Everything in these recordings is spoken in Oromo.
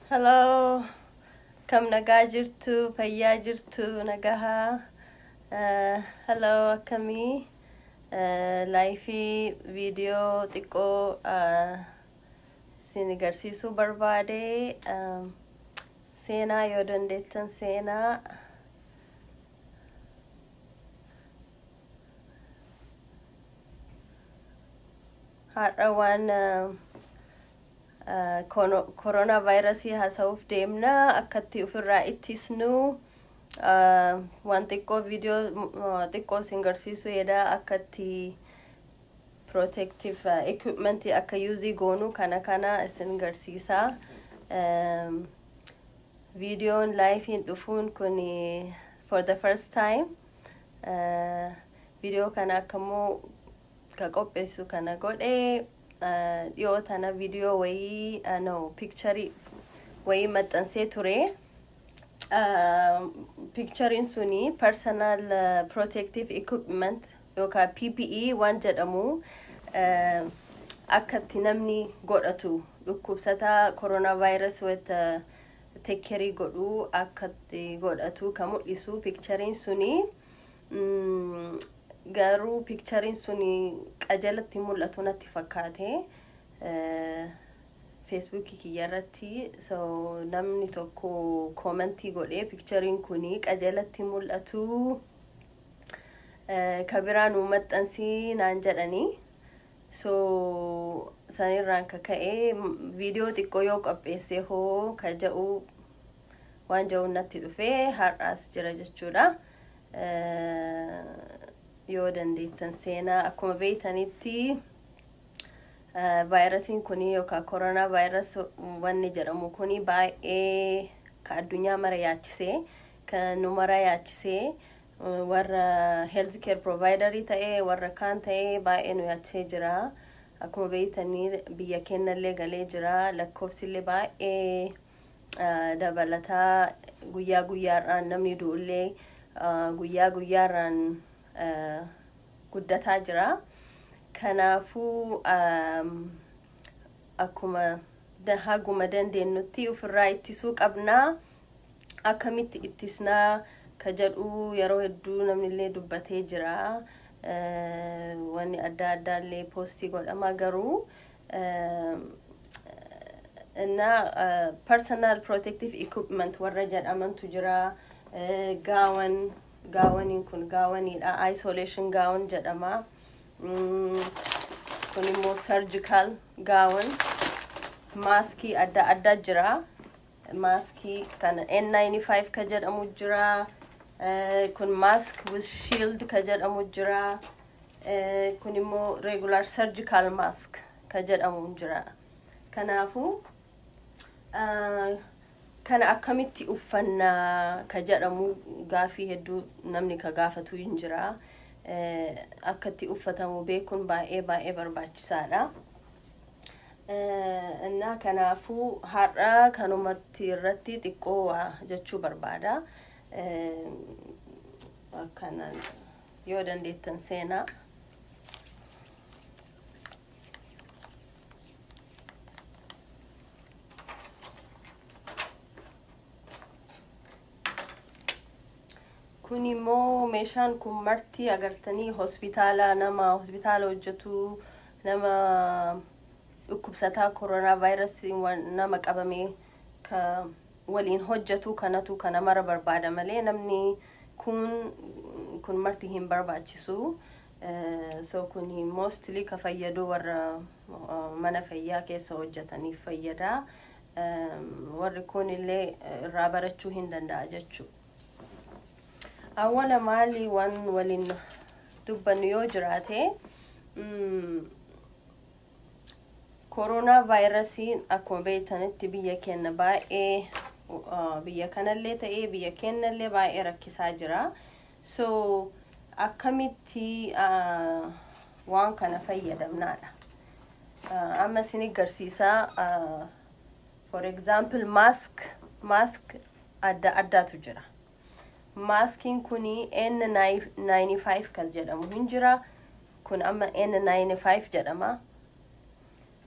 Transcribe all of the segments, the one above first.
Hello. Kam nagaa jirtu, fayyaa jirtu, nagahaa. Eh, Hello, akkamii? Eh, Laayifii viidiyoo xiqqoo eh, isin agarsiisuu barbaade. Eh, Seenaa yoo dandeettan seenaa. Har'a waan koronaa vaayirasii haasa'uuf deemna akkatti ofirraa ittisnu waan xiqqoo viidiyoo xiqqoo isin garsiisuu yaada akkatti protective equipment akka yuuzii goonu kana kana isin garsiisaa viidiyoon laayifiin dhufuun kun for the first time viidiyoo kana akkammoo ka qopheessu kana godhe dhiyoo tana viidiyoo wayii no piikcharii wayii maxxansee ture Piikchariin suni personal eh, protective equipment yookaan PPE waan jedhamu eh, akka itti namni godhatu dhukkubsataa coronavirus wayita tekkerii godhu akka itti godhatu kan mul'isu piikchariin suni mm, garuu piikchariin suni qajeelatti mul'atu natti fakkaate. Eh, Feesbuukii kiyya irratti so namni tokko koomentii godhee pikchariin kun qajeelatti mul'atu eh, ka biraa nuu maxxansii naan jedhanii so sanirraan ka ka'e m- viidiyoo xiqqoo yoo qopheessee hoo ka ja'u waan ja'uun natti dhufee har'aas jira jechuudha. Eh, Yoo dandeettan seenaa akkuma beektanitti Vaayirasiin kun yookaan koronaa vaayiras wanni jedhamu kun baay'ee ka addunyaa mara yaachisee ka nu mara yaachisee warra health care provider ta'e warra kaan ta'e baay'ee nu yaachisee jira. Akkuma beektanii biyya keenyallee galee jira lakkoofsillee baay'ee ah, dabalataa guyyaa guyyaarraan namni du'ullee ah, guyyaa guyyaarraan guddataa jira. Kanaafuu akkuma haguma dandeenyutti ofirraa ittisuu qabna. Akkamitti ittisnaa ka jedhu yeroo hedduu namni illee dubbatee jira. Wanni adda addaa illee poostii godhama garuu innaa personal protective equipment warra jedhamantu jira. Gaawan Gaawaniin kun gaawaniidha. Isolation gaawon jedhama. Mm, Kun immoo surgical gaawon. Maaskii adda addaa jira. Maaskii kan N95 ka jedhamu jira. Eh, Kun mask with shield ka jedhamu jira. Eh, Kun immoo regular surgical mask ka jedhamu jira. Kanaafuu Kana akkamitti uffanna ka jedhamu gaafii hedduu namni ka gaafatu hin jira. Akka itti uffatamu beekuun baay'ee baay'ee barbaachisaadha. Innaa kanaafuu har'a kanumatti irratti xiqqoo waa jechuu barbaada. Akkanaan yoo dandeettan seenaa. kun immoo meeshaan kun marti agartanii hospitaala nama hospitaala hojjetu nama dhukkubsataa koronaa vaayirasii nama qabame ka waliin hojjetu kanatu kana mara barbaada malee namni kun kun marti hin barbaachisu so kun mostly ka fayyadu warra mana fayyaa keessa hojjetaniif fayyada warri kun illee irraa barachuu hin danda'a jechuu awwala maali waan waliin dubbannu yoo jiraate koronaa vaayirasiin akkuma beektanitti biyya keenya baay'ee biyya kanallee ta'ee biyya keenyallee baay'ee rakkisaa jira So akkamitti ah, waan kana fayyadamnaadha. Ah, Amma isin garsiisa. ah, For example mask mask adda addaatu jira. Maaskiin kun N95 kan jedhamu hin jira. Kun amma N95 jedhama.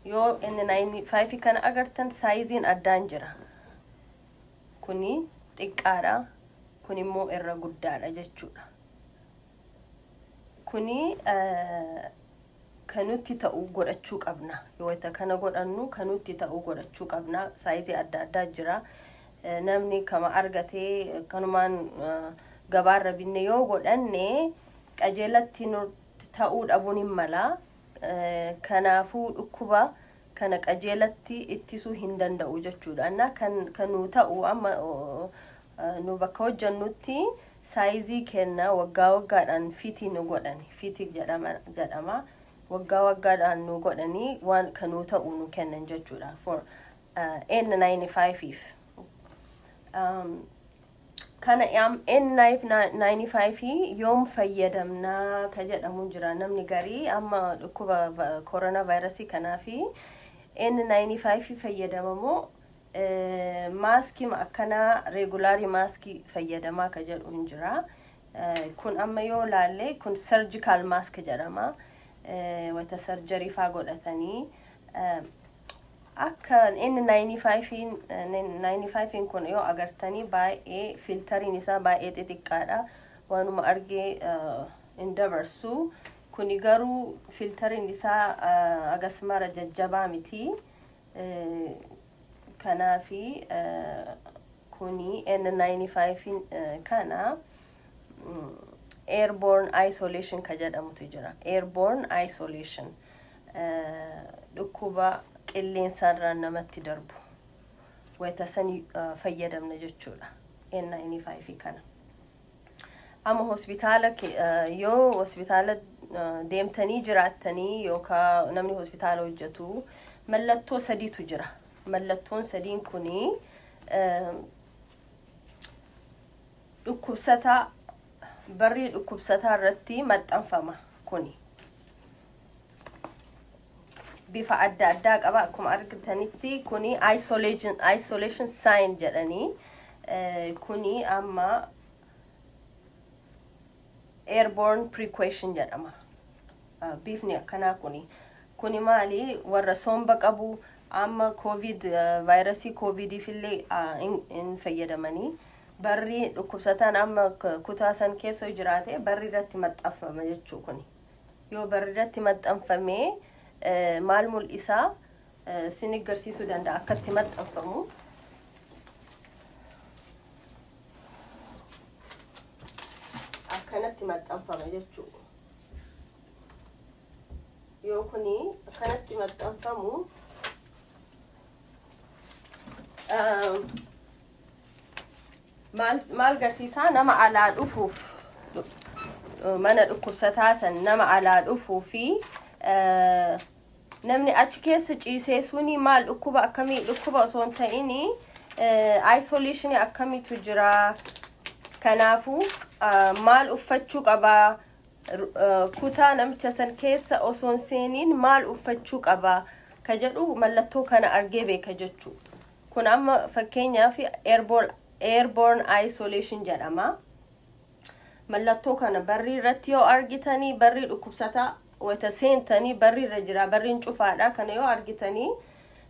Yoo N95 kana agartan saayiziin addaan jira. kuni xiqqaadha kun immoo irra guddaadha jechuudha kuni kanutti ta'u godhachuu qabna wayita kana godhannu kanutti ta'u godhachuu qabna saayizii adda addaa jira namni kama argatee kanumaan gabaarra binne yoo godhanne qajeelatti ta'uu dhabuun hin mala kanaafuu dhukkuba kana qajeelatti ittisuu hin danda'u jechuudha. Annaa kan kan nuu ta'u amma nu bakka hojjannutti saayizii kenna waggaa waggaadhaan fitii nu godhani fitii jedhama jedhama waggaa waggaadhaan nu godhanii waan kan nuu ta'u nu kennan jechuudha for N95 if. Um, kana am N9 95 yoom fayyadamna ka jedhamu jira namni garii amma dhukkuba koronaa vaayirasii kanaa fi N95 fayyadamamoo maaskii akkanaa reegulaarii maaskii fayyadamaa ka jedhu hin jira. Kun amma yoo laalle kun sarjikaal maask jedhama. Wata sarjarii faa godhatanii Akka N95n kun yoo agartanii baay'ee filtariin isaa baay'ee xixiqqaadha. Waanuma argee hin dabarsu. Kuni garuu filtariin isaa agasmara jajjabaa miti. Kanaafi kuni N95n kana airborne isolation ka jedhamutu jira airborne isolation dhukkuba qilleensarraan namatti darbu wayita san fayyadamna jechuudha N95 kana amma hospitaala yoo hospitaala deemtanii jiraattanii yookaan namni hospitaala hojjetu mallattoo sadiitu jira mallattoon sadiin kunii Dhukkubsataa, Barrii dhukkubsataa irratti maxxanfama kuni. Bifa adda addaa qaba akkuma argitanitti kuni isolation, isolation sign jedhanii eh, kuni amma airborne prequation jedhama. Ah, Bifni akkanaa kuni. Kuni maali? Warra somba qabu amma covid ah, vaayirasii covidiif illee ah, hin hin fayyadamanii. Barri dhukkubsataan amma k- kutaa san keessa yoo jiraate barri irratti maxxanfama jechuu kuni. Yoo barri irratti maxxanfamee eh, maal mul'isaa eh, sin agarsiisuu danda'a akkatti maxxanfamu. akkanatti maxxanfama jechuudha. Yoo kuni akkanatti maxxanfamu maal maal garsiisaa nama alaa dhufuuf mana dhukkubsataa san nama alaa dhufuu fi Namni achi keessa ciisee suni maal dhukkuba akkamii dhukkuba osoo hin ta'in isolation akkamiitu jira kanaafuu ah, maal uffachuu qaba Ru- ah, kutaa namicha san keessa osoo hin seeniin maal uffachuu qaba ka jedhu mallattoo kana argee beeka jechuu kun amma fakkeenyaaf airborne airborne isolation jedhama. mallattoo kana barrii irratti yoo argitanii barrii dhukkubsataa wayita seentanii barri irra jira barriin cufaadha kana yoo argitanii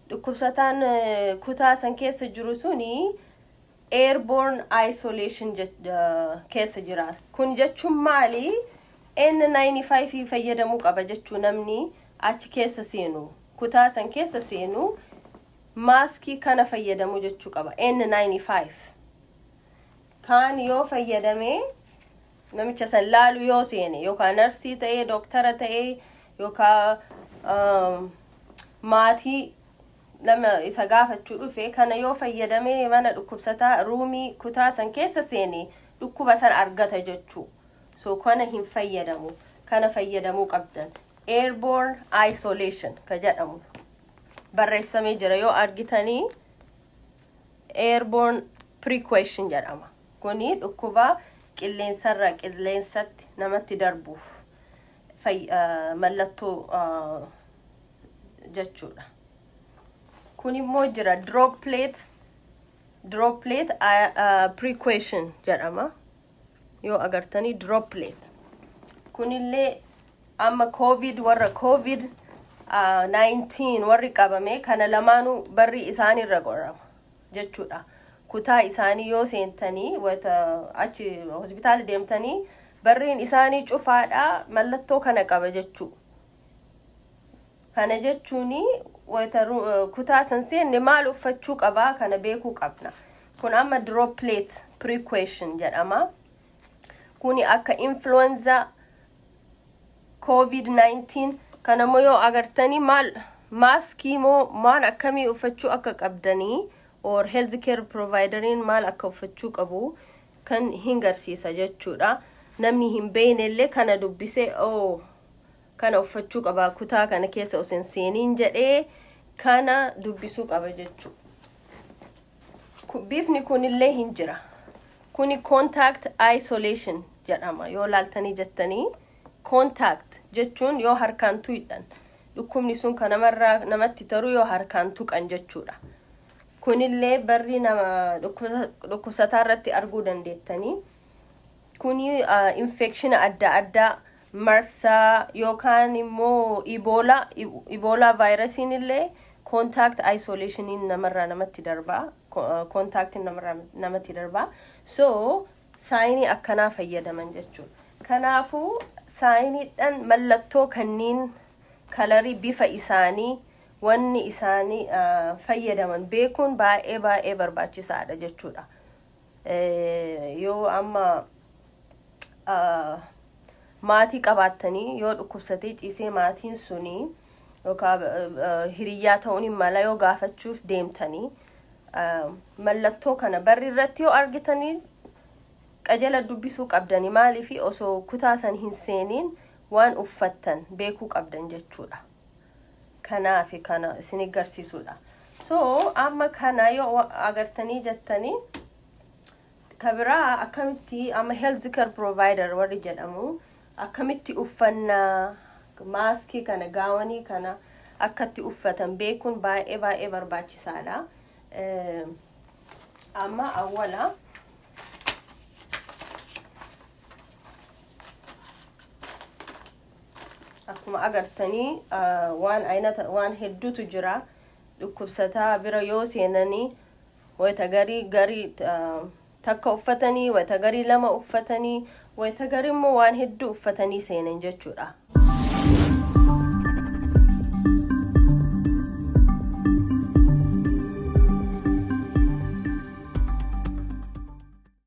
dhukkubsataan eh, kutaa san keessa jiru suni airborne isolation jech- eh, keessa jira kun jechuun maali N95 fayyadamuu qaba jechuu namni achi keessa seenu kutaa san keessa seenu maaskii kana fayyadamuu jechuu qaba N95 kaan yoo fayyadame namicha san laalu yoo seene yookaan narsii ta'ee dooktara ta'ee yookaan um, maatii nama isa gaafachuu dhufe kana yoo fayyadame mana dhukkubsataa ruumii kutaa san keessa seene dhukkuba san argata jechuu so kana hin fayyadamu kana fayyadamuu qabdan airborne isolation ka jedhamu barreessamee jira yoo argitanii airborne prequation jedhama kuni dhukkuba qilleensarra qilleensatti namatti darbuuf fay- ah, mallattoo ah, jechuudha kun immoo jira droplet droplet ah, ah, prequation jedhama yoo agartanii droplet kunillee amma covid warra covid ah, 19 warri qabame kana lamaanuu barri isaanirra qorama jechuudha kutaa isaanii yoo seentanii wata achi hospitaala deemtanii barriin isaanii cufaadha mallattoo kana qaba jechuu kana jechuun wayita ru- kutaa san seenne maal uffachuu qabaa kana beekuu qabna kun amma droplet precaution jedhama kuni akka influenza covid-19 kana immoo yoo agartanii maal maaskii moo maal akkamii uffachuu akka qabdanii or health care provideriin maal akka uffachuu qabu kan hin garsiisa jechuudha namni hin beekne illee kana dubbisee oh kana uffachuu qaba kutaa kana keessa osoo hin seeniin jedhee kana dubbisuu qaba jechuudha. Bifni kunillee hin jira. Kuni contact isolation jedhama yoo laaltanii jettanii contact jechuun yoo harkaan tuqxan dhukkubni sun kan namarraa namatti taru yoo harkaan tuqan jechuudha. Kunillee barri nama dhukkubsataa irratti arguu dandeettanii. Kuni infekshina adda addaa marsaa yookaan immoo iboola iboolaa vaayirasiin illee koontaakt ayisoleeshiniin namarraa namatti darba koontaaktiin namarraa namatti darba so saayinii akkanaa fayyadaman jechuudha kanaafuu saayiniidhaan mallattoo kanniin kalarii bifa isaanii wanni isaanii fayyadaman beekuun baay'ee baay'ee barbaachisaadha jechuudha yoo amma maatii qabaattanii yoo dhukkubsatee ciisee maatiin suni yookaan hiriyyaa ta'uun hin mala yoo gaafachuuf deemtanii mallattoo kana barri irratti yoo argitanii qajala dubbisuu qabdanii maaliif osoo kutaa san hin seeniin waan uffattan beekuu qabdan jechuudha. kanaafi kana isinii garsiisuudha so amma kana yoo wa- agartanii jettanii ka biraa akkamitti amma health care provider warri jedhamu akkamitti uffannaa maaskii kana gaawanii kana akkatti uffatan beekuun baay'ee baay'ee barbaachisaadha Eh, amma awwala akkuma agartanii waan aynata waan hedduutu jira dhukkubsataa bira yoo seenanii wayita garii garii takka uffatanii wayita garii lama uffatanii wayita garii immoo waan hedduu uffatanii seenan jechuudha.